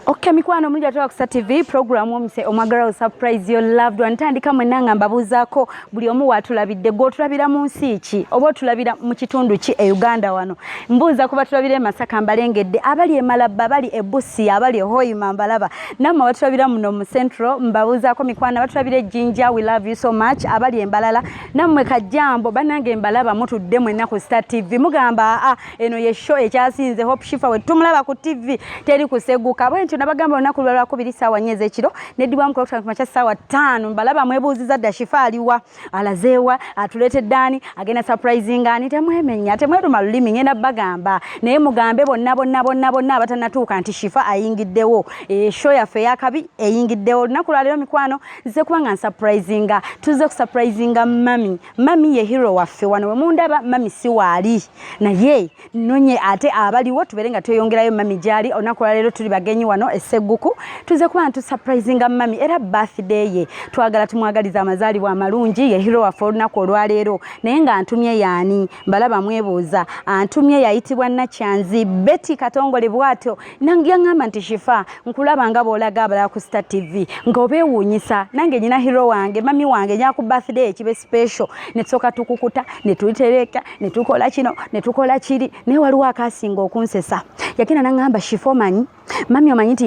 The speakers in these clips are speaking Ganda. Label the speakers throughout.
Speaker 1: Okay, mikwano omulungi ate wakusa tv program omise omwagala surprise your loved one tandika mwenna nga mbabuuzaako buli omu waatulabidde gwe otulabira mu nsi ki oba otulabira mu kitundu ki e uganda wano mbuuza kuba tulabira emasaka mbalengedde abali emalabba abali ebusi abali ehoima mbalaba namwe abatulabira muno mu central mbabuuzaako mikwano abatulabira ejjinja we love you so much abali embalala nammwe kajjambo banange mbalaba mutudde mwenna ku star tv mugamba aa ah, eno ye show ekyasinze hope shifa we tumulaba ku tv teri kuseguka bwe ntyo nabagamba olunaku lwa lwakubiri saawa nnya ez'ekiro neddibwamu ku lwakutano kumakya saawa ttaano mbalaba mwebuuziza dda shifa aliwa alazeewa atuleetedde ani agenda surprising ani temwemenya temweruma lulimi ngenda bagamba naye mugambe bonna bonna bonna bonna abatanatuuka nti shifa ayingiddewo eshow eh, yaffe eyakabi eyingiddewo olunaku lwaleero mikwano nze kuba nga nsupurizinga tuze kusupurizinga mami mami ye hero waffe wano wemundaba mami si waali naye nonye ate abaliwo tubeere nga tweyongerayo mami gyali olunaku lwaleero tuli bagenyi wano esegguku tuze kuba nga tusupurizinga mami era birthday ye twagala tumwagaliza amazaalibwa amalungi ye hero waffe olunaku olwaleero naye nga ntumye yaani mbalaba mwebuuza antumye yayitibwa nakyanzi beti katongole bwatyo nange yaŋŋamba nti shifa nkulaba nga bw'olaga abalala ku star tv nga obeewuunyisa nange nyina hero wange mami wange nyaku birthday ekibe special ne tusooka tukukuta ne tutereka ne tukola kino ne tukola kiri naye waliwo akaasinga okunsesa yagenda naŋŋamba shifa omanyi mami omanyi nti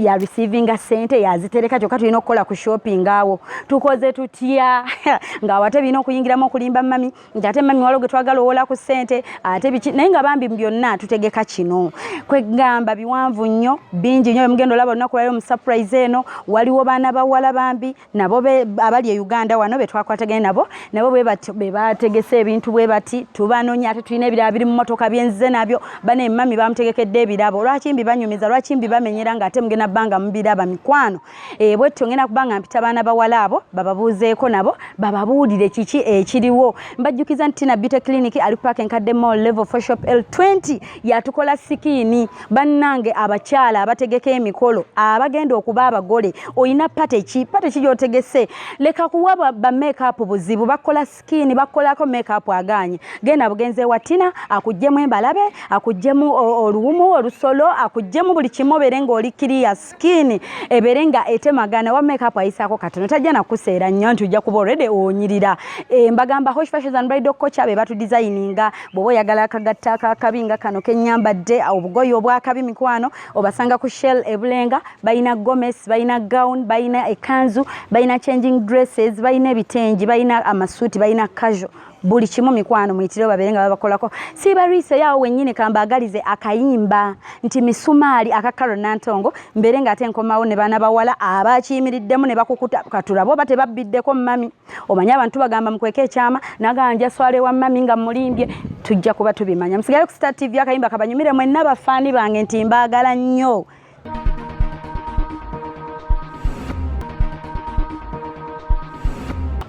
Speaker 1: yareceiving ya, ya sente yazitereka kyokka tulina okukola ku shopping awo tukoze tutya ng'awate birina okuyingiramu okulimba mami nti ate mami walo getwagala owola ku sente ate biki naye nga bambi byonna tutegeka kino kwegamba biwanvu nnyo bingi nnyo bemugenda olaba olunaku lwayo musurprise eno waliwo baana bawala bambi nabo abali e uganda wano betwakwatagane nabo nabo bebategese ebintu bwe bati tubanonya ate tulina ebirala biri mumotoka byenzize nabyo bana emami bamutegekedde ebirabo lwaki mbi banyumiza lwaki mbi bamenyera nga ate mugenda bbanga mubiraba mikwano Eh, bwetyo ngenda kuba nga mpita baana bawala abo bababuuzeeko nabo bababuulire kiki ekiriwo eh, mbajjukiza nti tina beauty clinic ali paaka enkadde mall level for shop l 20 yatukola sikiini bannange abakyala abategeka emikolo abagenda okuba abagole olina pateki pateki gyotegese leka kuwa bamakeup buzibu bakola skin bakolako make up aganye genda bugenze wa tina akujjemu embalabe akujjemu oluwumu olusolo akujjemu buli kimu bere nga oli clear skin ebere nga etemagana wa make up ayisako katono tajja na kuseera nnyo nti ujja kuba already onyirira e, mbagamba hosh fashions and bridal coach abe batu designinga bobo yagala kagatta kakabinga kano kenyambadde obugoyo obwakabi mikwano obasanga ku shell ebulenga balina gomes balina gown balina ekanzu balina changing dresses balina ebitengi balina amasuuti balina casual buli kimu mikwano muyitire babeere nga babakolako sibariise yawo wenyini kambaagalize akayimba nti misumaali aka karo nantongo mbeere nga ate nkomawo ne baana bawala abakiyimiriddemu ne bakukuta katulaba oba tebabbiddeko mumami omanyi abantu bagamba mukweka ekyama nagamba njaswala ewa mami nga mulimbye tujja kuba tubimanya musigayo ku star tv akayimba kabanyumire mwenna bafaani bange nti mbaagala nnyo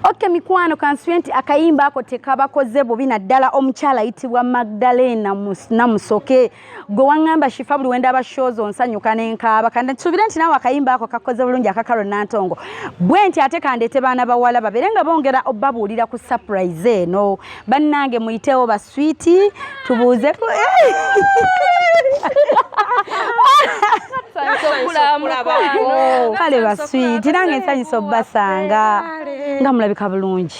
Speaker 1: oke mikwano kansubye nti akayimba ako tekabakoze bubi naddala omukyala ayitibwa magdalena namusoke gwe wangamba shifa buli wenda aba shows onsanyuka nenkaaba kanda nsubire nti nawe akayimba ako kakoze bulungi akakaro nantongo bwe nti ate kandeete baana bawala babere nga bongera obabuulira ku surprise eno bannange muyitewo baswiti tubuuze kale baswiti nange nsanyusa obubasanga nga mulabika bulungi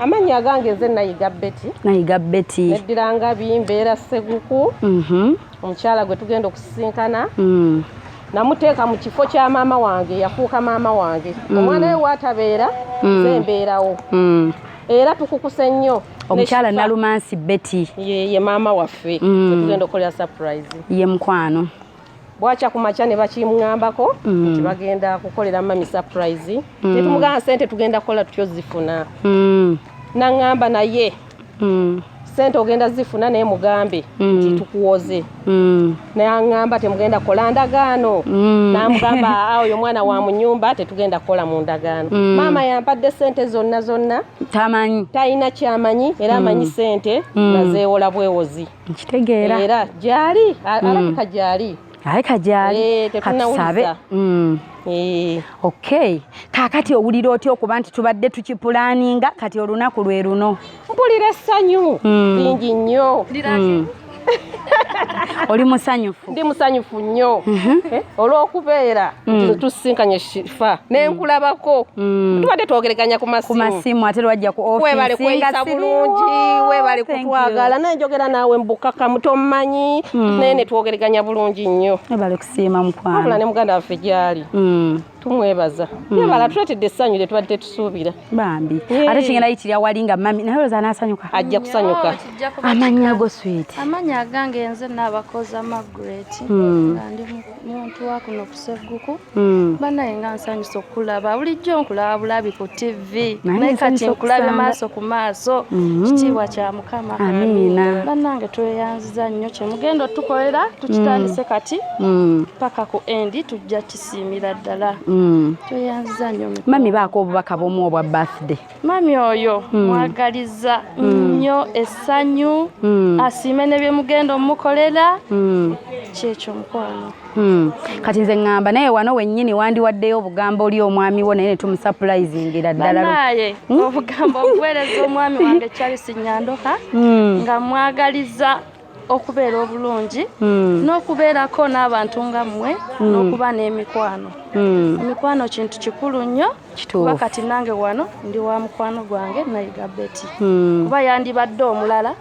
Speaker 1: amannya agange nze nayiga
Speaker 2: beti nayiga
Speaker 1: beti neddira ngabi mbeera
Speaker 2: seguku mhm. omukyala gwe tugenda okusisinkana mm. namuteeka mu kifo kya maama wange yafuuka maama wange mm. omwana we waatabeera mm. ze mbeerawo era tukukuse nnyo omukyala nalumansi
Speaker 1: beti ye maama
Speaker 2: waffe tugenda okukolera surprise ye mukwano
Speaker 1: bwakya ku
Speaker 2: makya ne bakimngambako mm. nti bagenda kukolera mami surprise mm. ne tumugamba sente tugenda kukola tutyo zifuna mm. nangamba naye mm. sente ogenda zifuna naye mugambe mm. nti mm. tukuwoze mm. naye angamba temugenda kukola ndagaano mm. namugamba awo yo mwana wa munyumba tetugenda kukola mu ndagaano mm. maama yampadde sente zonna zonna tamanyi
Speaker 1: talina kyamanyi
Speaker 2: era amanyi mm. sente mm. nazeewola bwewozi nkitegeera era
Speaker 1: gyali
Speaker 2: hmm. alabika gyali alabika gyali
Speaker 1: eh, katusabe hmm. eh. okay kakati owulira otya okuba nti tubadde tukipulaninga kati olunaku lwe luno mpulira essanyu
Speaker 2: hmm. lingi nnyo
Speaker 1: oli musanyufu ndi musanyufu nnyo
Speaker 2: mhm. eh, olw'okubeera mm. tusisinkanye shifa nenkulabako mm. mm. tubadde twogereganya ku masimu ate lwajja ku
Speaker 1: webale kweyisa bulungi
Speaker 2: webale kutwagala naye njogera naawe mbukakamu tommanyi naye netwogereganya bulungi nnyo webale kusiima mukwano
Speaker 1: abula ne muganda waffe
Speaker 2: gyali tumwebaza mm. yebala tuletedde essanyu lye tubadde tetusuubira bambi ate
Speaker 1: kigenda yitira wali nga mami naye olowooza anaasanyuka ajja kusanyuka
Speaker 2: oh, amannya go
Speaker 1: swit amannya agange nze
Speaker 3: naabakoza magret mm. nga ndi muntu wakuno kusegguku mm. banaye nga nsanyusa okukulaba bulijjo nkulaba bulabi ku tv naye kati nkulabe maaso ku maaso mm-hmm. kitiibwa kya mukama amiina bannange
Speaker 1: tweyanziza
Speaker 3: nnyo kyemugenda otukolera tukitandise kati paka ku endi tujja siimira ddala mm. tweyanziza nyo mami baako obubaka
Speaker 1: bwomu obwa birthday mami oyo
Speaker 3: mm. mwagaliza mm. nnyo essanyu asiime ne byemugenda omukolera kyekyo mukwano Hmm. kati nze
Speaker 1: ngamba naye wano wenyini wandiwaddeyo obugambo oli omwami wo naye netumusupulaizingira ddalanaye hmm? obugambo
Speaker 3: obuweereza omwami wange charles nyandoka hmm. nga mwagaliza okubeera obulungi hmm. n'okubeerako n'abantu nga mmwe hmm. n'okuba n'emikwano hmm. emikwano kintu kikulu nnyo kuba kati nange wano ndi wa mukwano gwange nayiga beti kuba yandibadde omulala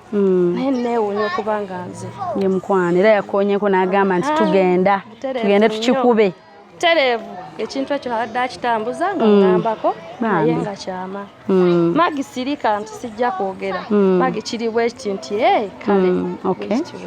Speaker 3: naye neewunya okuba nga nze ye mukwano era
Speaker 1: yakoonyeko n'agamba nti tugenda tugende tukikube tereevu
Speaker 3: ekintu ekyo abadde akitambuza nga mm. ngambako naye nga kyama mm. magi sirika nti sijja kwogera mm. magi kiri bwekiti nti e kale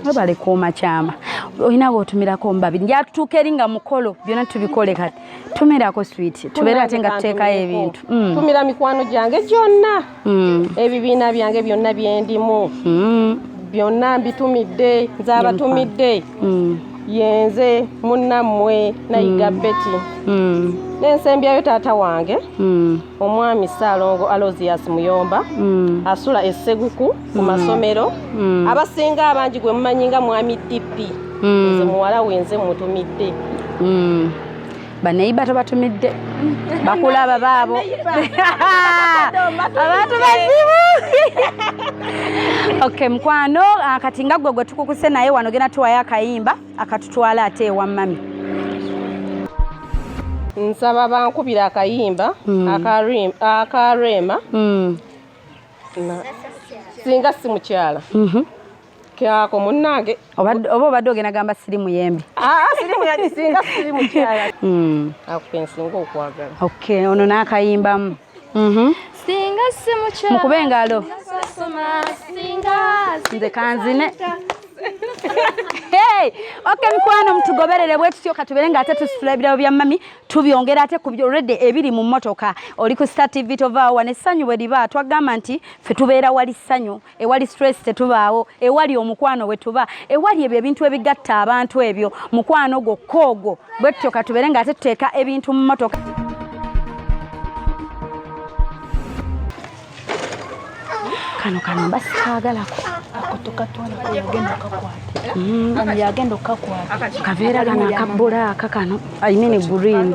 Speaker 3: webale kuuma kyama olina bwotumirako omubabiri njatutuuka eri nga mukolo byona tubikole kati tumirako swit tubeere ate nga tuteekayo ebintu tumira mikwano
Speaker 2: gyange gyonna mm. ebibiina byange byonna byendimu mm. byonna mbitumidde nzabatumidde mm. yenze munnammwe nayiga mm. beti mm. nensembyayo taata wange mm. omwami saalongo alozias muyomba mm. asula esseguku ku mm. masomero mm. abasinga abangi gwe mumanyi nga mwami dp mm. nze muwala wenze mutumidde mm.
Speaker 1: baneyiba tobatumidde bakulaba baabo abantu bazibu ok mukwano ah, kati nga gwe gwe tukukuse naye wano genda tuwayo akayimba akatutwala ate ewa mami
Speaker 2: nsaba bankubira akayimba hmm. akareema hmm. singa si mukyala mhm. kyako munnange oba obadde ogenda
Speaker 1: gamba siri muyembe ah, ah, siri muyagisinga
Speaker 2: siri mukyala hmm. akukensinga okwagala ok ono
Speaker 1: n'akayimbamu mhm.
Speaker 3: singa si mukyala mukube engalo nze kanzine
Speaker 1: ok mikwano mutugoberere bwetutyo katubere nga ate tusitula ebirabo bya mami tubyongera ate kubyolredde ebiri mu motoka oli ku star tv tovaawa nessanyu bwe liba twagamba nti fe tubeera wali ssanyu ewali stress tetubaawo ewali omukwano wetuba ewali ebyo ebintu ebigatta abantu ebyo mukwano gwo koogo bwe tutyo katubere nga ate tuteeka ebintu mu motoka kano kano mba sikaagalako
Speaker 3: yagenda okakwata kaveera kano akabbula
Speaker 1: aka kano ayimini green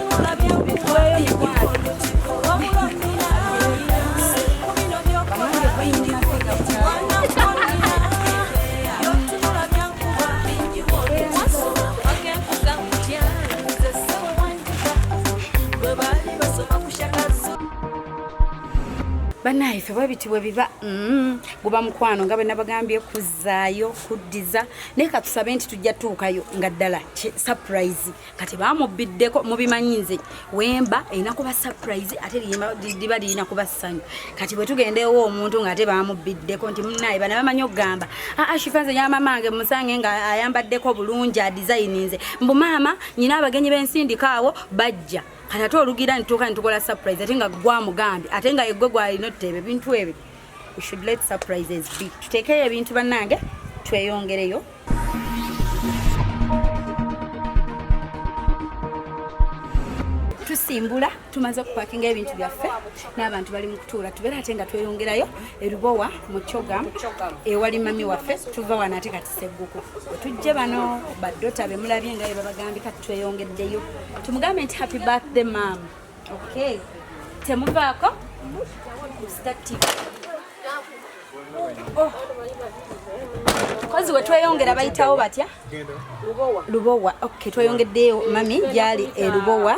Speaker 1: banaye ife bwebiti bwebiba mm, guba mukwano nga bwenabagambye kuzaayo kuddiza naye katusabe nti tujja tuukayo nga ddala surprise kati bamubbiddeko mubimanyi nze wemba erina kuba surprise ate liba lirina kuba ssanyu kati bwe tugenda ewa omuntu ng'ate bamubbiddeko nti munaye bana bamanyi okugamba aa ah, ah, shifa nze yamamange musange nga ayambaddeko bulungi adisayininze mbu maama nyina abagenyi b'ensindika awo bajja kati ate olugira nituuka nitukola surprise ate nga gwamugambye ate nga egwe gwalina oteeba ebintu ebyo we should let surprises be tuteekeyo ebintu bannange tweyongereyo tusimbula tumaze okupakinga ebintu byaffe n'abantu bali mu kutuula tubeera ate nga tweyongerayo erubowa mu coga ewali mami waffe tuva wano ate kati segguku wetujje bano badota bemulabye nga bebabagambye kati tweyongeddeyo tumugambe nti happy birthday maama Okay. Temuvaako. Oh. Kozi we tweyongera bayitawo batya? Lubowa. Lubowa. Okay, tweyongeddeyo mami gyali e Lubowa.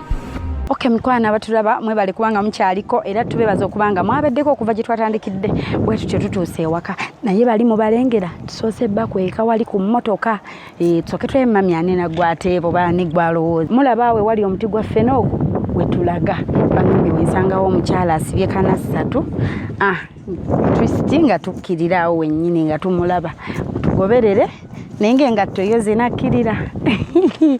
Speaker 1: Okay, mikwano abatulaba mwebale kubanga mukyaliko era tubebaza okuba nga mwabeddeko okuva gye twatandikidde bwe tutyo tutuuse ewaka naye bali mubalengera tusoose bba kweka wali ku mmotoka e, tusoke twemamyane nagwateebo bani gwalowooza mulaba we wali omuti gwa ffene ogwo wetulaga bambi wensangawo omukyala asibye kana ssatu ah, twisiti nga tukkirirawo wennyini nga tumulaba tugoberere naye ngaengatto yo zinakkirira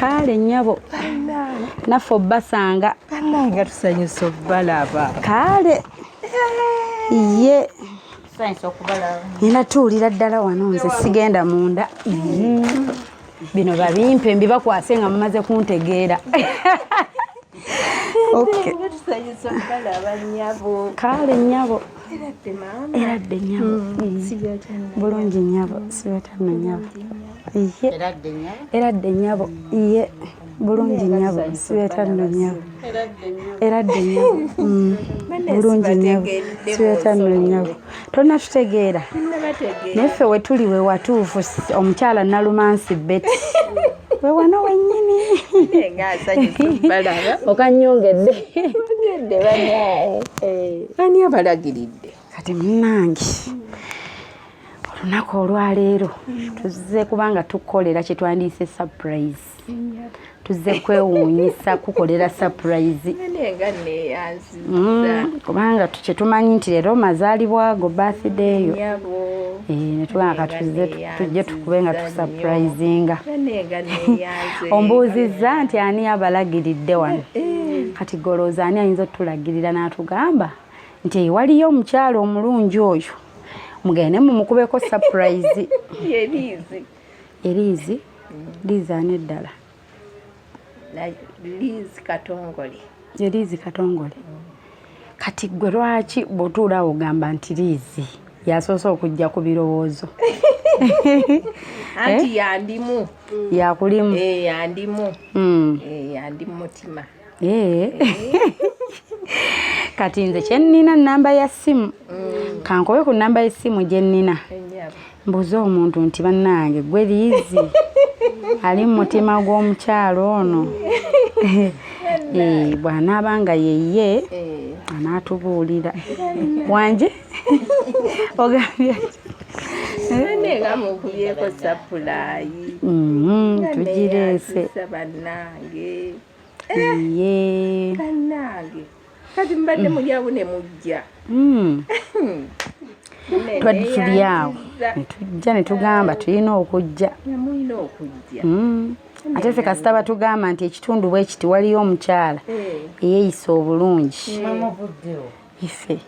Speaker 1: kaale nyabo naffe obbasanga nga tusanyusa
Speaker 2: obbalaba kaale
Speaker 1: ye nina tuwulira ddala wano nze sigenda munda mm-hmm. bino babimpe mbibakwase nga mumaze kuntegeera kaale nyabo eradde nyabo bulungi nyabo sibetanno nyabo eradde nyabo ye bulungi nyabo sibetanno nyabo eradde nyabo mm. bulungi nyabo sibetanno nyabo tolina tutegeera naye ffe wetuli we watuufu omukyala nalumansi beti we wano wenyini okanyongedde eh.
Speaker 2: ani abalagiridde kati munange
Speaker 1: olunaku olwaleero tuzze kubanga tukukolera kyetwandiise surprise tuzze kwewuunyisa kukolera surprise Mm, kubanga kyetumanyi nti leero mazaalibwa go birthday eyo eh, netugamba katuze tujje tukube nga tusaprayizinga ombuuzizza nti ani abalagiridde wano eh. kati golooza ani ayinza otulagirira n'atugamba nti waliyo omukyalo omulungi oyo mugende mumukubeko sapurayizi eriizi liizi ani eddala lizi katongole eliizi katongole kati gwe lwaki bwotuula ogamba nti liizi yasoose okujja ku birowoozo
Speaker 2: anti eh? yandimu yakulimu
Speaker 1: eh, yandimu
Speaker 2: hmm. eh, yandimu mutima Eh.
Speaker 1: kati nze kyennina namba ya simu mm. kankobe ku namba yesimu gyennina mbuuza omuntu nti bannange gwe liizi ali mu mutima gw'omukyalo ono eh, bw'anaaba nga yeye eh. anaatubuulira wanje ogambye tugireese
Speaker 4: iye
Speaker 1: bannange
Speaker 4: kati mbadde mulyawo ne mujja hmm.
Speaker 1: twaditulyawo netujja netugamba tulina okujja
Speaker 4: hmm. ate ffe
Speaker 1: kasita batugamba nti ekitundu bwekiti waliyo omukyala eh. eyeyisa obulungi ife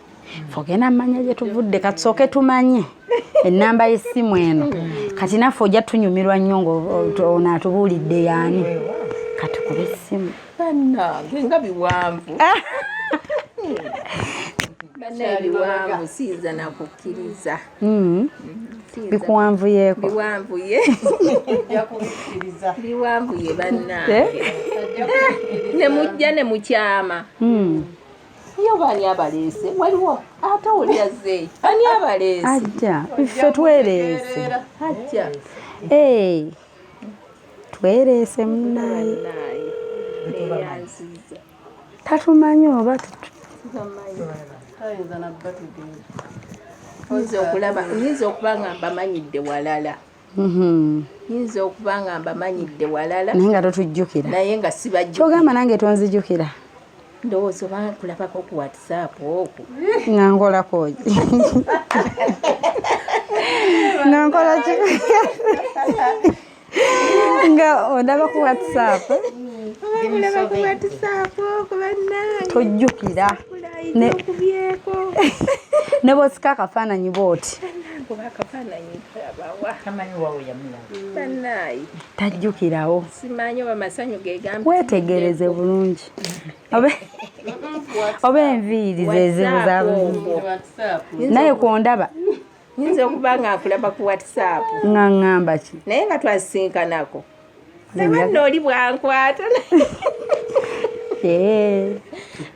Speaker 1: fogena manya gyetuvudde katusooke tumanye enamba yesimu eno kati naffe ojja tunyumirwa nnyo ngaonatubuulidde yaani katukube esimu banange
Speaker 4: nga biwanvu ah! ebiwanvu siyinza nakukkiriza hmm.
Speaker 1: bikuwanvuyeko biwanvuye
Speaker 4: biwanvuye bannange eh? ne mujja ne mukyama hmm. yo bani abaleese waliwo ate oli azzeeyo ani abaleese ajja ffe
Speaker 1: twereese ajja
Speaker 4: ee
Speaker 1: twereese munaye
Speaker 4: tatumanyi
Speaker 1: oba oyinza okulaba
Speaker 4: oyinza okuba nga mbamanyidde walala Mm-hmm. yinza okuba nga mbamanyidde walala naye nga totujjukira
Speaker 1: naye nga sibajjukira
Speaker 4: kyogamba nange tonzijukira
Speaker 1: ndowooza
Speaker 4: oba kulabako ku whatsapp oku nga
Speaker 1: nkolakoki nga nkolaki nga ondaba ku whatsapp
Speaker 4: tojjukira
Speaker 1: ne bwosika akafaananyi booti
Speaker 4: tajjukirawo wetegereze bulungi
Speaker 1: oba enviiri zezimu naye kwondaba nyinza okuba
Speaker 4: nga akulaba ku whatsapp nga ngamba
Speaker 1: ki naye nga twasisinkanako
Speaker 4: sebanno oli bwankwata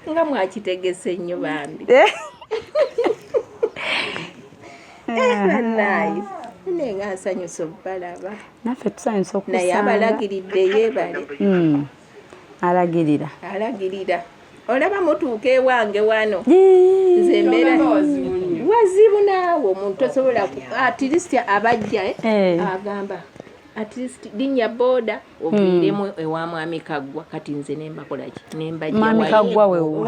Speaker 4: nga mwakitegese nnyo bambi eh. eh, naye nga nsanyusa okubalaba naffe tusanyusa
Speaker 1: okunaye abalagiridde yebale
Speaker 4: hmm. alagirira
Speaker 1: alagirira olaba
Speaker 4: mutuuka ewange wano nze mbeera wazibu naawe omuntu tosobola atirisiti abajja eh? agamba at least linnya boda oviiremu hmm. ewa mwami kaggwa kati nze nembakolaki nembajmwami kaggwa
Speaker 1: wewo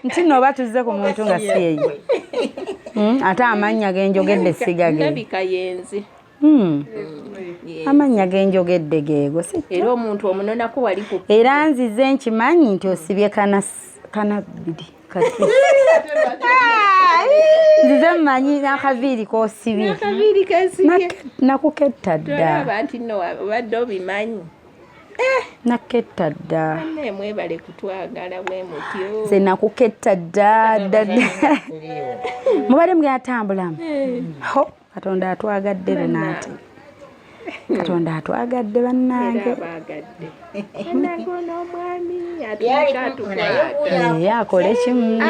Speaker 1: nti no oba tuzze ku muntu nga si eyo hmm? ate amannya genjogedde sigagabika yenze
Speaker 4: hmm.
Speaker 1: amannya genjogedde geego era omuntu
Speaker 4: omunonako wali era nzize
Speaker 1: nkimanyi nti osibye kanabiri kati nzize mmanyi n'akaviiri k'osibye
Speaker 4: nakuketta
Speaker 1: ddaobadde
Speaker 4: obimanyi eh!
Speaker 1: naketta dda mwebale
Speaker 4: kutwagala bwe mutyo nze nakuketta
Speaker 1: dda dda mubadde mugenda tambulamu eh. katonda atwagadde lunanti katonda atwagadde bannange ye akole kimu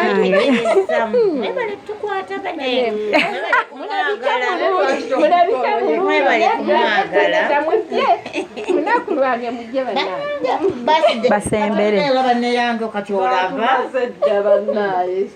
Speaker 1: basembere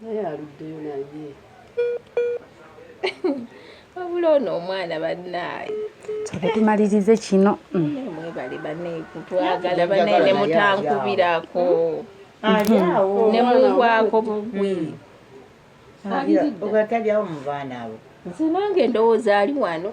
Speaker 1: naye aluddeyo
Speaker 4: naye wabula ono omwana bannaaye kyobe
Speaker 1: tumalirize kino mm. mwebale
Speaker 4: banekutwagala banene mutankubirako mm-hmm. nemuhwako bugwi mm.
Speaker 5: ogatalyawo mu baana abo nze nange ndowooza
Speaker 4: ali wano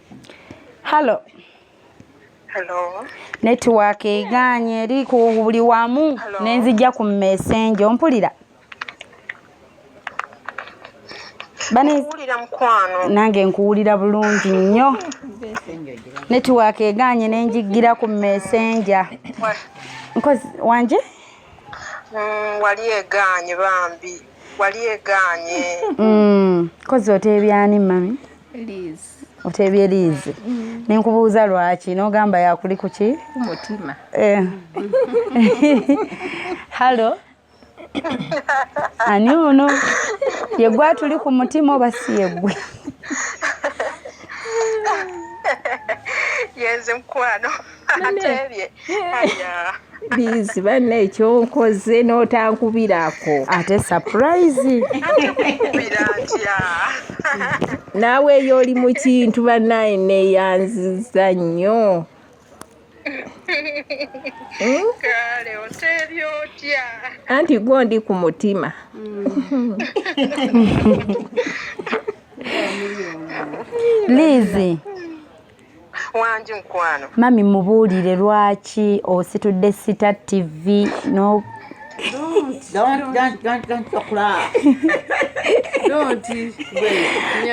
Speaker 1: Hello.
Speaker 6: Hello. Network
Speaker 1: eganye eri ku buli wamu nenzija ku message ompulira.
Speaker 6: Bani kuwulira mkwano. Nange nkuwulira
Speaker 1: bulungi nnyo. Network eganye nenjigira ku message. Nkozi wanje?
Speaker 6: Mm, wali eganye bambi. Wali eganye. Mm.
Speaker 1: Kozi otebyani mami? Please.
Speaker 4: oteebye
Speaker 1: liizi mm. ne nkubuuza lwaki n'ogamba yakuli ku ki mutima
Speaker 4: eh.
Speaker 1: hallo ani ono yegwe atuli ku mutima oba si yegwe
Speaker 6: yenze mukwano bizi
Speaker 4: banne ekyonkoze n'otankubirako ate
Speaker 1: sapurayizi
Speaker 4: naawe eyo oli mu kintu bannaye neeyanziza nnyo
Speaker 6: kale oteebye otya anti gwo ndi
Speaker 4: ku mutima
Speaker 1: mm. lizi
Speaker 6: wangi mukwano mami mubuulire
Speaker 1: lwaki ositudde sita tv
Speaker 5: no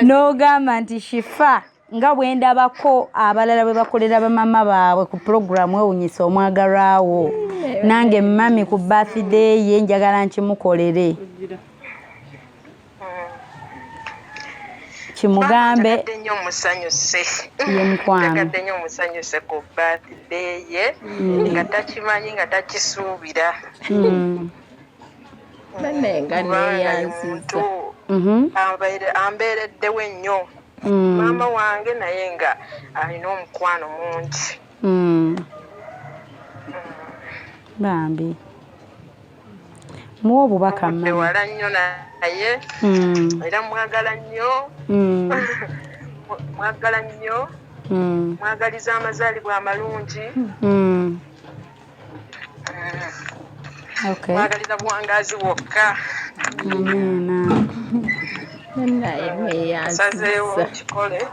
Speaker 1: n'ogamba nti shifa nga bwendabako abalala bwe bakolera bamama baabwe ku pulogulaamu ewunyisa omwagalwawo nange mami ku bathday ye njagala nkimukolere kimugambe nnyo musanyuse
Speaker 6: ye mukwano
Speaker 1: nnyo musanyuse
Speaker 6: ku birthday ye mm. nga takimanyi nga takisuubira mm.
Speaker 4: bane nga neyanziza mm-hmm.
Speaker 6: ambeereddewo ennyo mm. maama wange naye nga alina omukwano mungi mm.
Speaker 1: bambi muwa obubaka mewala nnyo naye
Speaker 6: hmm. era mwagala nnyo hmm. mwagala nnyo hmm. mwagaliza amazaalibwa amalungi
Speaker 1: mwagaliza buwangazi
Speaker 6: bwokka
Speaker 4: sazeewo kikole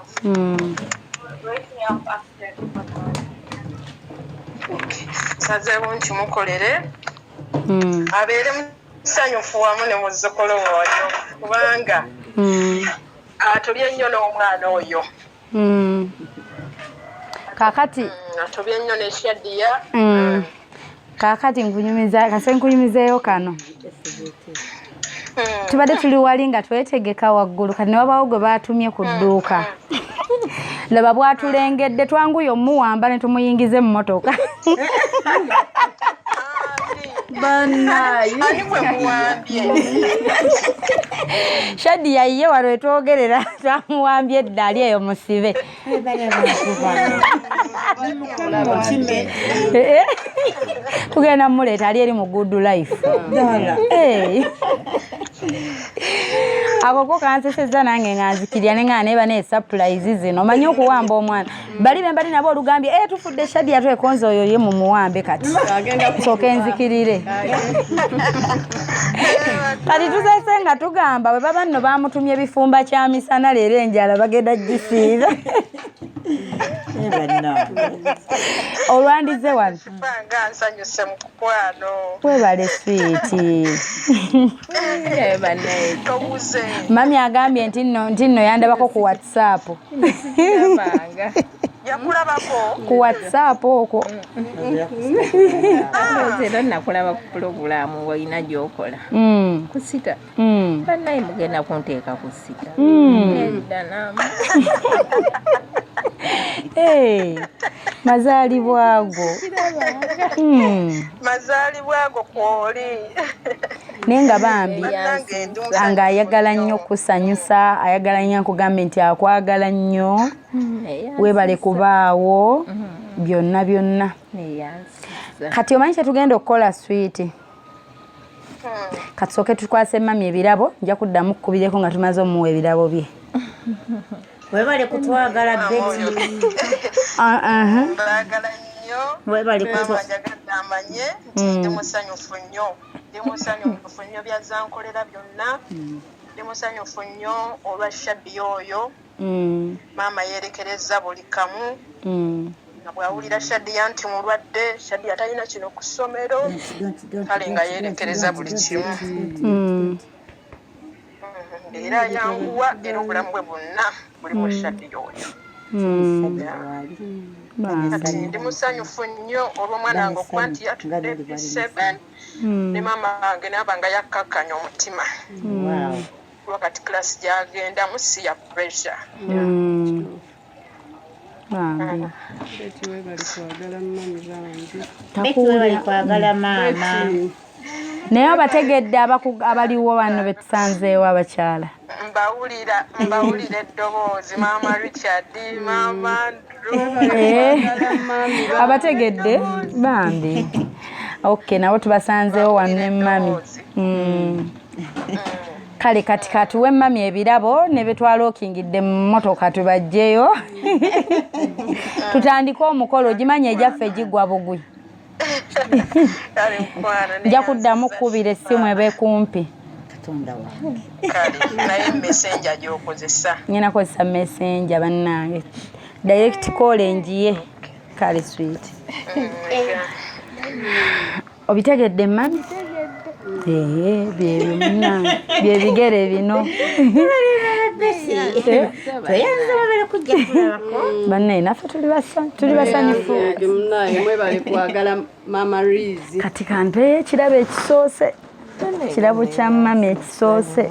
Speaker 6: nsazeewo nkimukolere hmm. abeere musanyufu wamu ne muzzukulu oyo kubanga hmm. atobye nnyo n'omwana oyo hmm.
Speaker 1: kakati atobye nnyo
Speaker 6: nekyadiya
Speaker 1: kaakati nkunyumiza kase nkunyumizeeyo kano hmm. tubadde tuli wali nga twetegeka waggulu kati newabaawo gwe baatumye ku dduuka hmm. laba bwatulengedde twanguye omuwamba ne tumuyingiza emmotoka shadi yayiye wano etwogerera twamuwambye eddaali eyo musibe tugenda mumuleeta ali eri mu good life ako ko kanseseza nange nga nzikirya ne nga neeba ne surprise zino omanyi okuwamba omwana bali bembali nabo olugambye eh, Tudde Shadia twekonze oyo ye mu muwambe kati nsooka enzikirire kati tusese nga tugamba bwe baba nno baamutumye bifumba kya misana leero enjala bagenda gisiiza olwandize wano
Speaker 6: webale
Speaker 1: swiiti
Speaker 4: mami
Speaker 6: agambye
Speaker 1: nti nno yandabako ku whatsapp
Speaker 6: yakulabako ku whatsapp
Speaker 1: okwo
Speaker 4: era nakulaba ku pulogulaamu ngaolina gyokola mm. ku sita mm. banaye mugenda kunteeka ku sita mm. eh,
Speaker 1: mazaalibwago
Speaker 6: mazaalibwago kwoli naye
Speaker 1: nga bambi nga ayagala nnyo kusanyusa ayagala nnyo akugambe nti akwagala nnyo hmm, webale kubaawo hmm. byonna byonna kati omanyi kyetugenda okukola swiiti katusooke tukwase mami ebirabo nja kuddamu kukubireko nga tumaze omuwa ebirabo bye webale
Speaker 5: kutwagala beti ah, uh-huh.
Speaker 6: webale
Speaker 5: kutwamanye
Speaker 6: hmm. ndi musanyufu nnyo ndi musanyufu nnyo byazankolera byonna ndi musanyufu nnyo olwa shabi oyo mm. maama yerekereza buli kamu mm. nga bwawulira shadiya nti mulwadde shadiya talina kino ku ssomero kale nga yerekereza buli kimu mm. era yanguwa era obulamu bwe bwonna buli mu shadiya oyo kati ndi musanyufu nnyo olw'omwana wange okuba nti yatudde p7 ne maama wange naaba nga yakkakkanya omutima kuba kati
Speaker 5: class gyagendamu si ya pressure mm. takuwulira maama naye
Speaker 1: abategedde abaliwo wano betusanzeewo abakyala mbawulira
Speaker 6: mbawulira eddoboozi maama richard maama eh,
Speaker 1: abategedde bambi ok nabo tubasanzeewo wano ne mami kale kati katuwe mami ebirabo ne betwalokingidde mu mmotoka tubajjeyo tutandike omukolo ogimanya egyaffe gigwa bugwi nja kuddamu kukubira essimu ebe kumpi
Speaker 6: nyina kozesa
Speaker 1: messenja bannange direct call enjiye kale sweet obitegedde mami byebyo munange byebigere bino banne naffe tuli basanyufu
Speaker 2: kati kampeyo ekirabo
Speaker 1: ekisoose kirabo kya mami ekisoose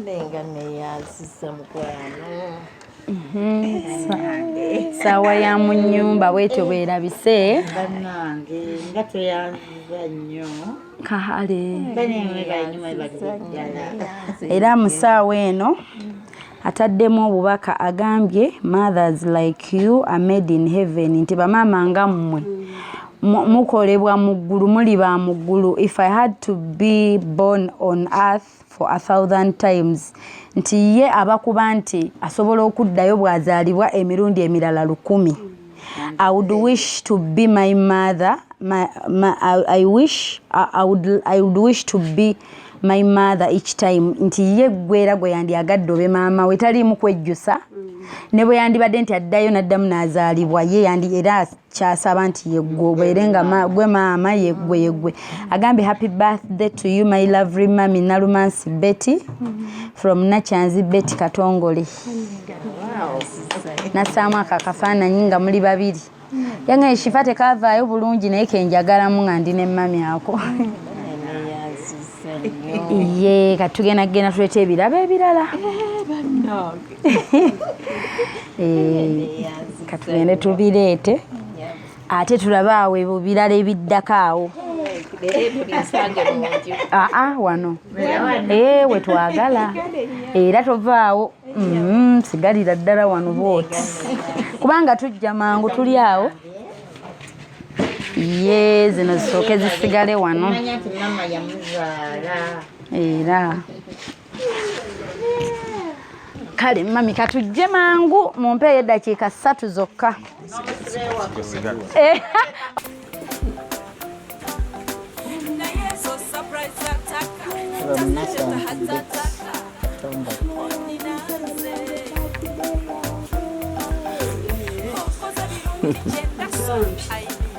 Speaker 1: Nenga neyaziza mukwano mhm. saawa ya mu nyumba bwetyo bwerabise banange
Speaker 5: nga tweyanziza nnyo kahale era mu saawa
Speaker 1: eno ataddemu obubaka agambye mothers like you are made in heaven nti bamaama nga mmwe mukolebwa mu ggulu muli ba mu ggulu if i had to be born on earth for a thousand times nti ye abakuba nti asobola okuddayo bw'azaalibwa emirundi emirala lukumi I would wish to be my mother. My, my, I, I wish I, I would I would wish to be my mother each time nti ye gwera gwe yandi agadde obe maama we tali mu kwejjusa mm. ne bwe yandibadde nti addayo n'addamu n'azaalibwa ye yandi era kyasaba nti yegwobeere nga gwe maama yegwe yegwe agambye happy birthday to you my lovely mami nalumansi betty mm-hmm. from nakyanzi betty katongole nassaamu ako akafaananyi nga muli babiri yange eshifa tekavaayo bulungi naye kenjagalamu nga ndi nemmami ako ye katugenda kugenda tuleeta ebirabo ebirala eh, eh, katugende tubireete ate tulabe awo ebyo birala ebiddako awo aa ah, ah, wano ee eh, wetwagala era tovaawo mm-hmm, sigalira ddala wano bwoti kubanga tujja mangu tuli awo ye zino zisooke zisigale wano era kale mami katujje mangu mumpeeyo eddakiika ssatu zokka eh.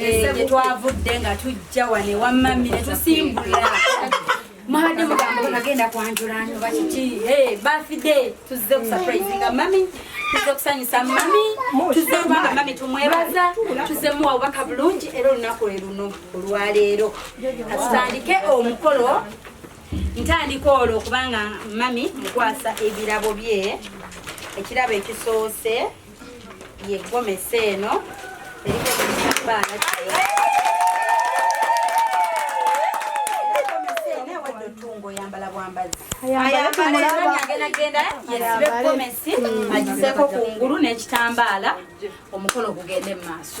Speaker 1: eh, gye twavudde nga tujja wane wammami ne tusimbula mwabadde mugambo nagenda kwanjula nyoba kiki eh, bafide tuzze kusaprasinga mami tuzze kusanyusa mami tuzze kubanga mami tumwebaza tuzze muwa obubaka bulungi era olunaku lwe luno olwaleero katutandike omukolo ntandika olwo kubanga mami mukwasa ebirabo bye ekirabo ekisoose ye gomesi eno erikoekitambaala oyambala bwambazi agenagenda yesibe gomesi agiseko ku ngulu n'ekitambaala omukolo gugende mu maaso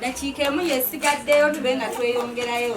Speaker 1: Dakiika emu yesigaddeyo tube nga tweyongerayo.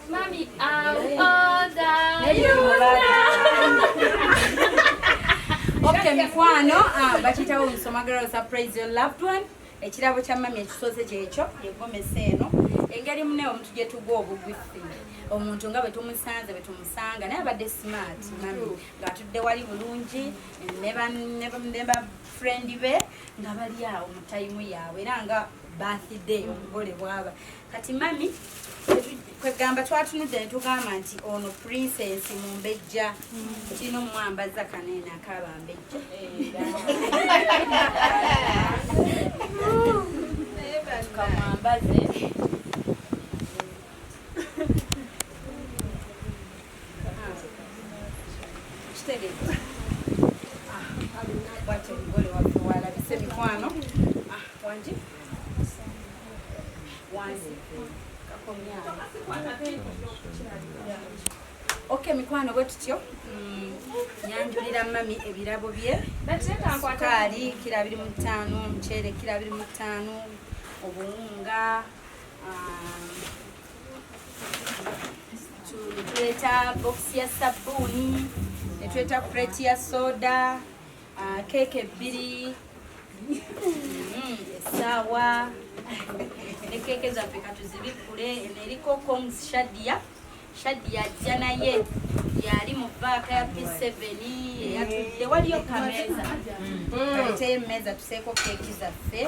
Speaker 3: Mami,
Speaker 1: okay mikwano ah, bakitawo nsoma girl surprise your loved one ekirabo kya mami ekisoze kyekyo yegomesa eno engeri mune omuntu gyetugwa obugwifi omuntu nga bwetumusanze bwetumusanga naye abadde smart mami ngaatudde wali bulungi ne ba friend be nga bali awo mu tayimu yaabwe era nga birthday omugole bwaba kati mami kwegamba twatunudde netugamba nti ono princess mumbejja kino mwambaza kanene akaaba mbejja Okay, mikwano bwe tutyo mm, nyanjulira mami ebirabo bye sukaali kira biri mu ttaano omuceere kira biri mu ttaano obuwunga um, tuleeta bokisi ya sabbuuni netuleta kureti ya soda Ah, keeke ebbiri mm, essaawa ne keeke zaffe katuzibikkule eno eriko coms shadia shadia ajja naye yali mu baaka ya p7 eyatudde waliyo kameeza mm. aleteyo emmeeza tuseeko keeki zaffe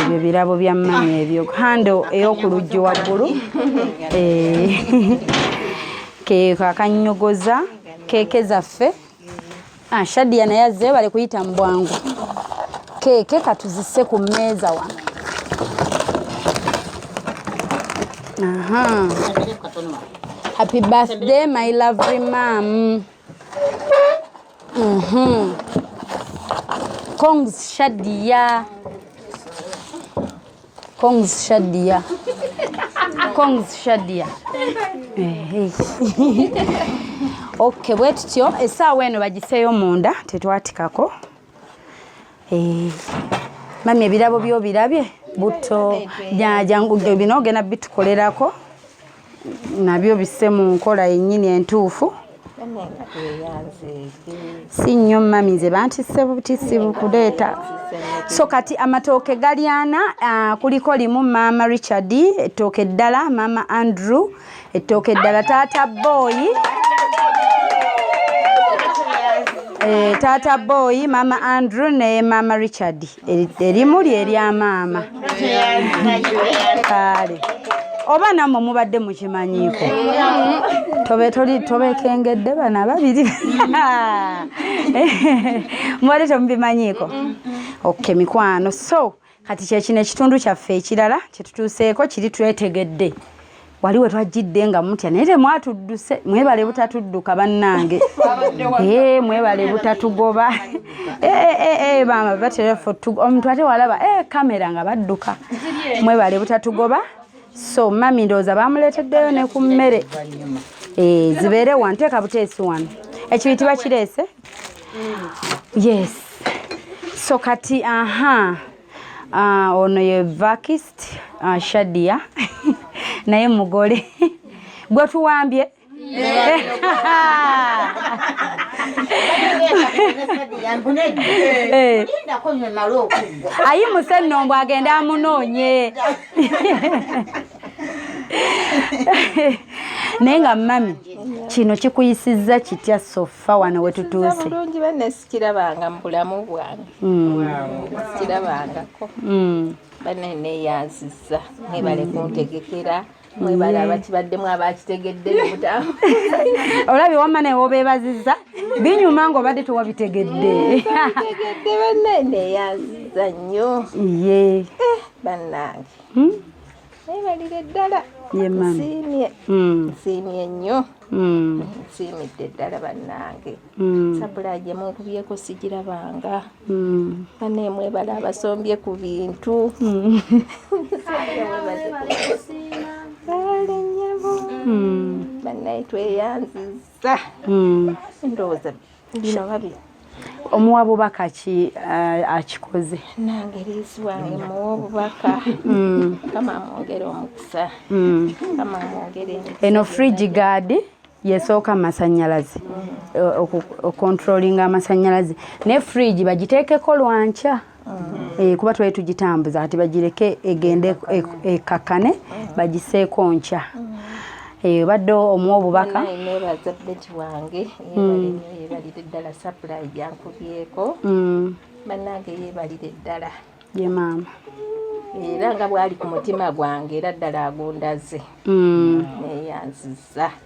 Speaker 1: ebyo birabo bya mmanyi ebyo hando ey'oku luggi waggulu eh, keeko akannyogoza keeke zaffe ah, shadiya naye azze bali kuyita mu bwangu keeke katuzise ku mmeeza wano happy birthday my lovely mam Mhm. Congs Shadia. Congs Shadia. Congs Shadia. Eh, okay, bwe tutyo esaawa eno bagiseeyo munda tetwatikako. Eh. Mami ebirabo byo birabye butto jangu bino ogenda bitukolerako. nabyo bisse mu nkola yennyini entuufu si nnyo mami nze bantisse butisi bukuleeta so kati amatooke galyana uh, kuliko limu maama richard ettooke eddala maama andrew ettooke eddala taata booyi e, taata booyi maama andrew ne maama richard erimu lye erya maama kaale oba namwe mubadde mukimanyiiko tobe toli tobekengedde bana babiri mubadde temubimanyiiko oke mikwano so kati kyekino ekitundu kyaffe ekirala kyetutuuseeko kiri twetegedde wali we twajjidde nga mutya naye temwatudduse mwebale butatudduka bannange ee eh, mwebale butatugoba eh, eh, maama baterefo omuntu ate walaba e kamera nga badduka mwebale butatugoba so mami ndowooza bamuleeteddeyo ne ku mmere zibeere wano teeka buteesi wano ekibiti bakireese yes so kati aha Ah, ono ye vakist ah, shadia naye mugole gwe tuwambye eh. ayimuse nno mbu agende amunoonye naye nga mami kino kikuyisizza kitya sofa wano wetutuuse
Speaker 4: kirabanga mu bulamu bwange kirabangako banene yaziza mwebale kuntegekera mwebale abakibaddemu abakitegedde mubutamu olabye
Speaker 1: wamma naye wobebaziza binyuma nga obadde tewabitegedde tegedde
Speaker 4: banene yaziza nnyo
Speaker 1: ye
Speaker 4: eh, bannange hmm? webalire ddala nsiimye
Speaker 1: hmm. nsiimye
Speaker 4: nnyo hmm. nsiimidde ddala bannange hmm. sabula gye munkubyeko sigirabanga bane mwebala abasombye ku bintu kale nyabo banaye tweyanziza ndowooza bino babi omuwa
Speaker 1: bubaka ki eh, akikoze nange
Speaker 4: lizwange muwa obubaka mm. kama mwongere omukisa mm. kama mwongere eno fridge guard
Speaker 1: yesooka amasanyalaze mm. eh, okontrolinga amasanyalaze ne fridge bagiteekeko lwankya ah. eh, kuba twali tugitambuza kati bagireke egende ekakkane e, e, mm. bagiseeko nkya mm. eh, obadde omu obubaka nebaza beti
Speaker 4: wange yebalire ddala sapulayi gyankubyeko bannange yebalire ddala ye maama
Speaker 1: era
Speaker 4: nga bwali ku mutima gwange era ddala agundaze mm. neyanziza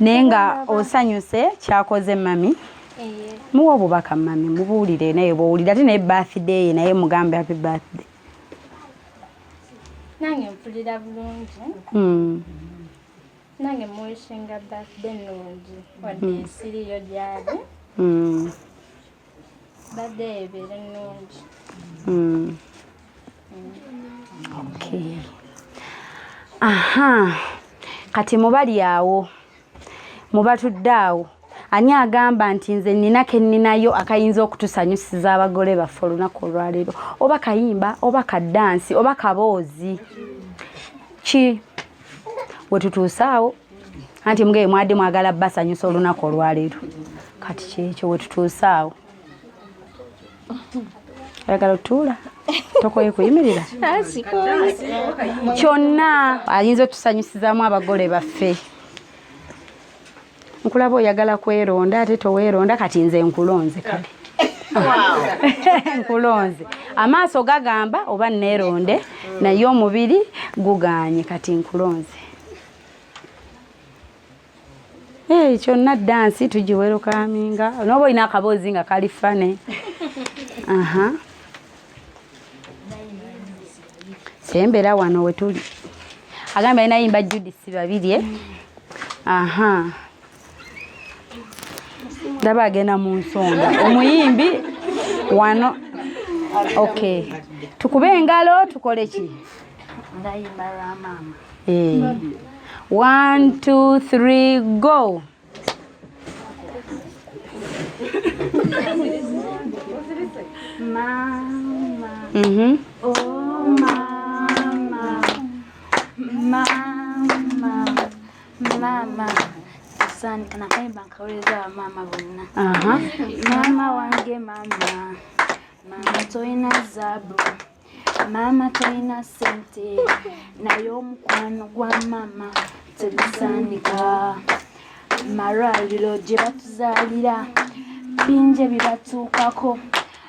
Speaker 1: naye nga osanyuse kyakoze mami eh. muwa obubaka mami mubuulire naye bwowulira ate naye birthday ye naye mugambe happy birthday
Speaker 3: nange mpulira bulungi hmm. nange muwishinga birthday nungi wadde hmm. siriyo gyali hmm. badde ebeera
Speaker 1: ennungi hmm. aha kati mubali awo mubatudde awo ani agamba nti nze nina keninayo akayinza okutusanyusiza abagole baffe olunaku olwaleero oba kayimba oba kadansi oba kaboozi ki wetutuuse awo anti mugee mwade mwagala basanyusa olunaku olwaleero kati kyekyo wetutuuse awo ayagala otuula tokoye kuyimirira kyonna ayinza otusanyusizamu abagole baffe nkulaba oyagala kweronda ate toweronda kati nze nkulonze kale nkulonze amaaso gagamba oba neronde naye omubiri guganye kati nkulonze Hey, kyonna dansi tugiwerukaminga noba olina akaboozi nga kali fane aha sembera wano wetuli agamba alina yimba judisi babirye eh? aha ndaba agenda mu nsonda omuyimbi wano ok tukube engalo tukole ki
Speaker 3: eh. one
Speaker 1: two three go
Speaker 3: mama mm
Speaker 1: -hmm.
Speaker 3: oh, mama. Mama. maama saanika nakayimba nkawuliriza bamaama bonna maama wange maama maama tolina zaabu maama tolina sente naye omukwano gwa maama tebisaanika malwaliro gye batuzaalira bingi ebibatuukako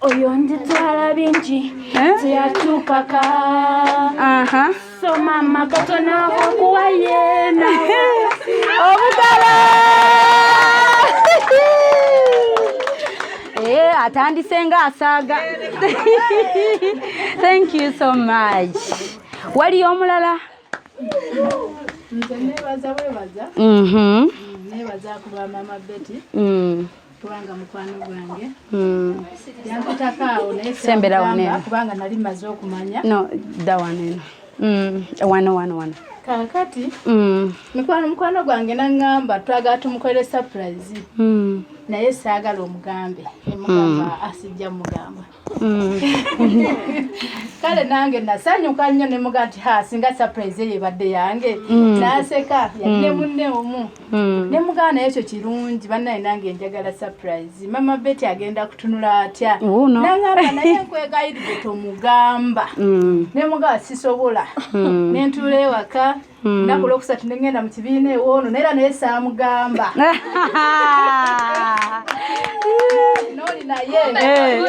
Speaker 7: oyo nditwala bingi eh? teyakyukaka so mama katona okuwa yena
Speaker 1: obugala eh, atandise nga asaaga thank you so much waliyo omulala
Speaker 8: nze nebaza bwebaza mhm. nebaza kuba mama beti mm. kubanga mukwano gwange hmm. yankutako awo nayesembera waneno kubanga
Speaker 1: nali maze
Speaker 8: okumanya no da
Speaker 1: waneno hmm, wano wano wano kakati
Speaker 8: hmm. mikwano mukwano gwange naŋŋamba twagala tumukolere surprise naye saagala omugambe emugamba asijja mugamba Mm. kale nange nasanyuka nnyo ne muga nti ha singa surprise eyo ebadde yange mm. naseka yali ne mm. munne omu ne mugaana ekyo kirungi bannaye nange njagala surprise mama beti agenda kutunula atya oh, nangamba naye nkwegayiride tomugamba ne mugaa sisobola ne ntuula ewaka Hmm. naku lwokusatu nengenda mu kibiina ewoono naye era naye saamugamba noli naye eh.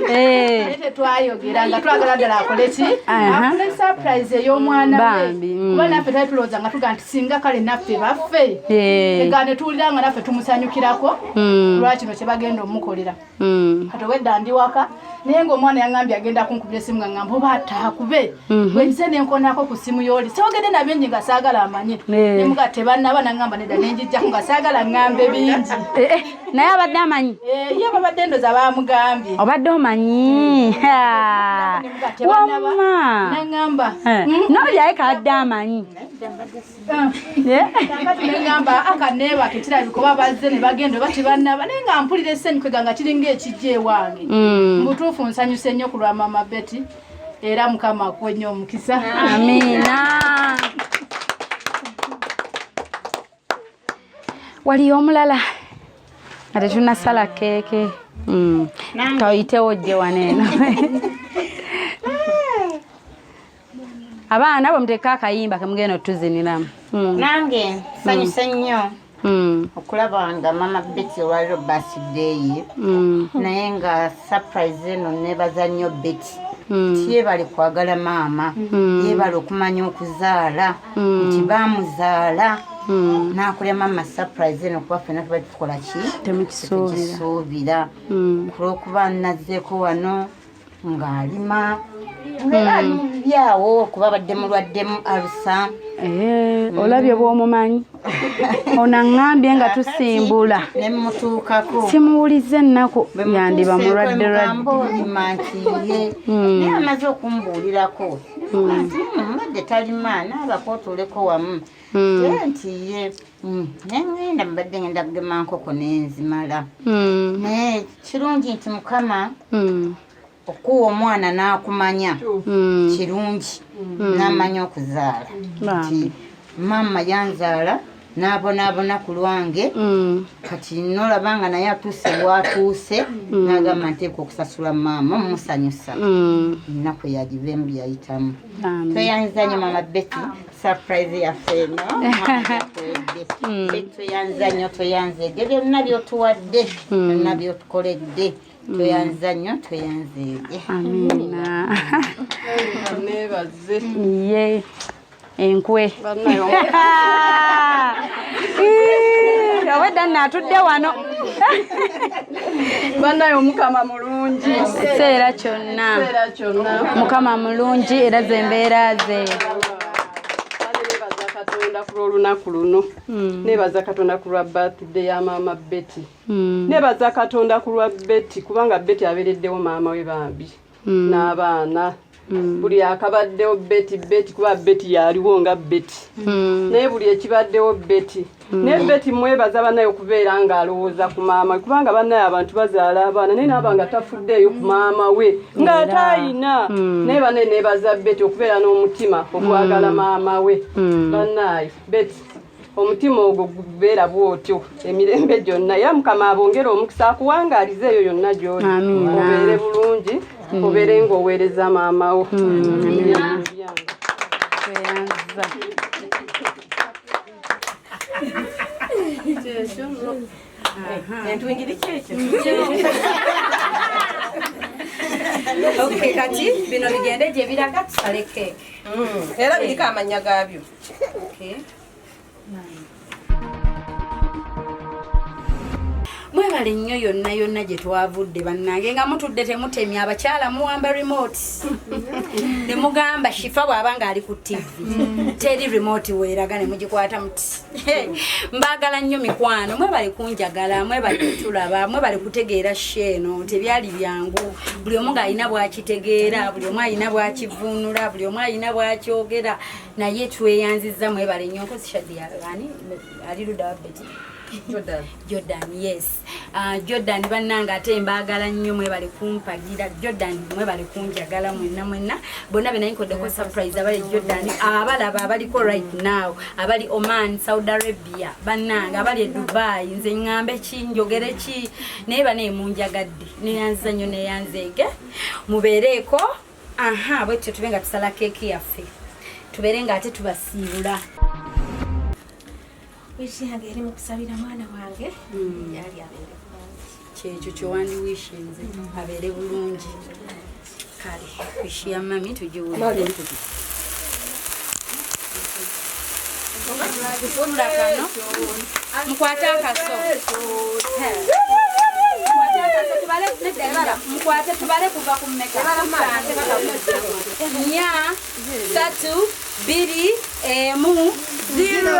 Speaker 8: eh, eh. tetwayogera nga twagala ddala akole ki afune surprise ey'omwana we hmm. kuba naffe tali tulowooza nga tuga nti singa kale naffe baffe ega ne tuwulira nga naffe tumusanyukirako hmm. lwakino kye bagenda omukolera Mm. kati obwedda ndi waka naye ngaomwana yaŋambye agenda kunkubira esimu nga ŋamba oba atakube mhm. wenise nenkonako ku simu yoli siogende na bingi nga saagala amanye eh. nemuga tebanaba naŋamba nedda nenjijjaku nga saagala ŋambe bingi eh, eh, naye abadde
Speaker 1: amanyi ye babadde ndoza
Speaker 8: bamugambye obadde omanyi
Speaker 1: wama naŋamba hmm?
Speaker 8: nolyaye
Speaker 1: kaadde amanyi kakati
Speaker 8: nengamba akaneebake kirabika oba bazze ne bagenda oba tebanaba naye nga mpulira esenyikwega nga kiringa ekijja ewange mm. mubutuufu nsanyuse nnyo ku lwa mama beti era mukama akuwe nnyo omukisa amiina
Speaker 1: waliyo omulala nga tetunasala keeke mm. toyitewo jje waneeno abaana bwemuteeka akayimba kemugenda otuziniramu hmm. nange
Speaker 5: sanyuse hmm. nnyo hmm. okulaba nga mama beti olwaliro basideyi naye nga surprise eno nebaza nnyo beti nti yebale kwagala maama yebale okumanya okuzaala nti bamuzaala Hmm. nakulya mama surprise eno kuba fena tuba tukola ki temukisuubira hmm. kulwokuba nazeeko wano ng'alima byawo kuba badde mulwaddemu alusa eh,
Speaker 1: olabye mm. bwomumanyi onaŋambye nga tusimbula nemutuukako
Speaker 5: simuwuliza
Speaker 1: ennaku yandiba mulwadde lwaddema nti
Speaker 5: ye mm. naye amaze okumbuulirako mm. mbadde talima naabakotuleko wamu Hmm. nti ye hmm, nengenda mbadde ngenda kugema nkoko nenzimala hmm. naye kirungi nti mukama okuwa omwana n'akumanya kirungi n'amanya okuzaala nti maama yanzaala n'abonaabona ku lwange kati nolaba nga naye atuuse waatuuse n'agamba nteeka okusasula maama omusanyusa ennaku yagiveemu byeyayitamu tweyanzanyo maama beti surprise yaffe eno hmm. tweyanza nnyo tweyanza ebyo byonna byotuwadde hmm. byonna byotukoledde hmm. tweyanza nnyo tweyanza ebye amina
Speaker 2: nebaze ye
Speaker 1: enkwe obwedda natudde wano
Speaker 2: banaye omukama ekiseera
Speaker 1: kyonna mukama mulungi era zembeera ze
Speaker 2: katonda ku lw'olunaku luno hmm. nebaza katonda ku lwa birthday ya maama betty hmm. nebaza katonda ku lwa betty kubanga betty abeereddewo maama we bambi hmm. n'abaana
Speaker 9: Mm. buli akabaddewo beti beti kuba beti yaliwo nga beti mm. naye buli ekibaddewo beti mm. naye beti mwebaza banaye okubeera nga alowooza ku maama we kubanga banaye abantu bazaala abaana naye naaba nga tafuddeeyo ku maama we nga ate ayina naye banaye nebaza beti okubeera n'omutima okwagala maama we banaye beti omutima ogwo gubeera bwotyo emirembe gyonna era mukama abongere omukisa akuwangaaliza eyo yonna gyoli obeere bulungi hmm. obeere ngaoweereza maamawo kati bino bigende gyebiraga
Speaker 1: tusale keeke hmm. era biriko
Speaker 2: amanya gaabyo
Speaker 1: Okay. mwebale nnyo yonna yonna gye twavudde bannange nga mutudde temutemya abakyala muwamba remote ne mugamba shifa bw'aba ng'ali ku ttivi mm. teri remote weeraga ne mugikwata muti mbaagala nnyo mikwano mwebale kunjagala mwebale kutulaba mwebale kutegeera sheeno tebyali byangu buli omu ng'alina bw'akitegeera buli omu alina bw'akivvuunula buli omu alina bw'akyogera naye tweyanziza mwebale nyo nkozi shadi yani ali luda wa beti Jordan. Jordan, yes. Uh, Jordan bananga ate mbagala nnyo mwebale kumpagira Jordan mwebale kunjagala mwenna mwenna bonna be naye nkoddeko surprise abali Jordan abalaba abaliko right now abali Oman, Saudi Arabia bananga abali e Dubai nze ŋŋambe ki njogere ki naye banaye munjagadde neyanziza nnyo neyanzeege mubeereeko aha bwe tutyo tube nga tusala keeki yaffe tubeere nga ate tubasiibula
Speaker 7: wishi yange yali mukusabira mwana wange hmm. yali abeere bulungi kyekyo
Speaker 1: kyewandi wishinze hmm. abeere bulungi kale wishi ya mami tugiwulire kufunda kano mukwate akaso mukwate tubale kuva ku nya satu biri emu zero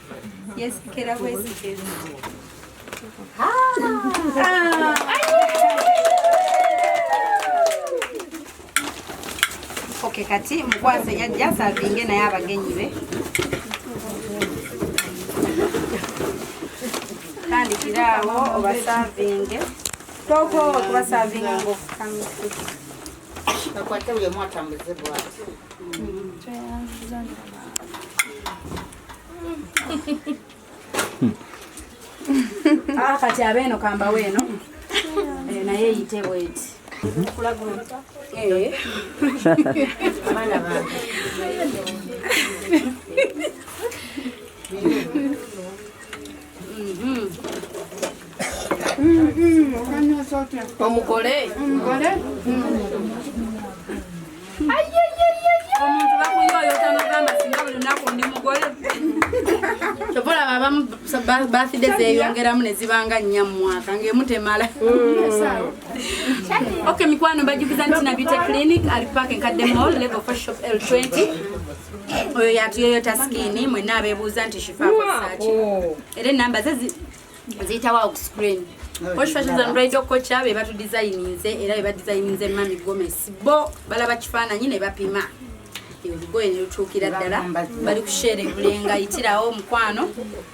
Speaker 1: Yes, kera bwezi. Ah! Okay, kati mukwase yajja savinge naye abagenyi be tandikira awo obasavinge toko okubasavinga ngaofukamia
Speaker 5: akwate buli omu atambuze bwati
Speaker 1: Ah, kati abeeno kambawe eno eh, naye eyite bweti eh.
Speaker 2: omugole
Speaker 1: omuntu bakuyoyota nogamba singa buli lunaku ndi mugole kyova olaba abamu bafide zeyongeramu nezibanga nnya mu mwaka ngaemu temala ok mikwano mbajjukiza nti nabite clinic ali park enkadde mall level for shop l 20 oyo yatuyoyota skini mwena abebuuza nti shifakosaaki era enamba ze ziyitawo awo ku screen Posh Fashions and Bridal Kocha be batu designinze era be badesigninze Mami Gomez bo balaba kifaananyi ne bapima olugoye ne lutuukira ddala bali kusheera ebulenga yitirawo omukwano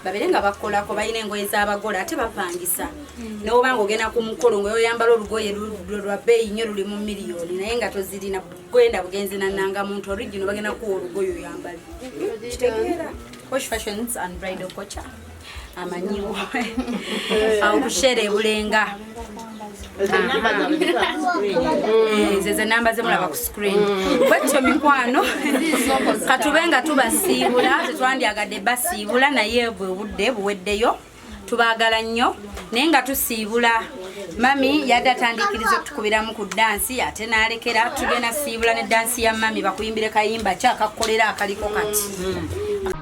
Speaker 1: babeere nga bakolako balina engoye z'abagola ate bapangisa nowoba nga ogenda ku mukolo nga oyambala olugoye lwa bbeeyi nnyo luli mu miliyoni naye nga tozirina gwenda bugenzi nananga muntu origino bagenda kuwa olugoye oyambale kitegeera Posh Fashions and Bridal Kocha amanyiwo aokushera ebulenga zeze namba zemulaba ku screen bwekityo mikwano katube nga tubasiibula tetwandyagadde basiibula naye bwe budde buweddeyo tubagala nnyo naye nga tusiibula
Speaker 10: mami yadde atandikiriza okutukubiramu ku dansi ate nalekera tugenda siibula ne dansi ya mami bakuyimbire kayimba kyakakukolera akaliko kati hmm.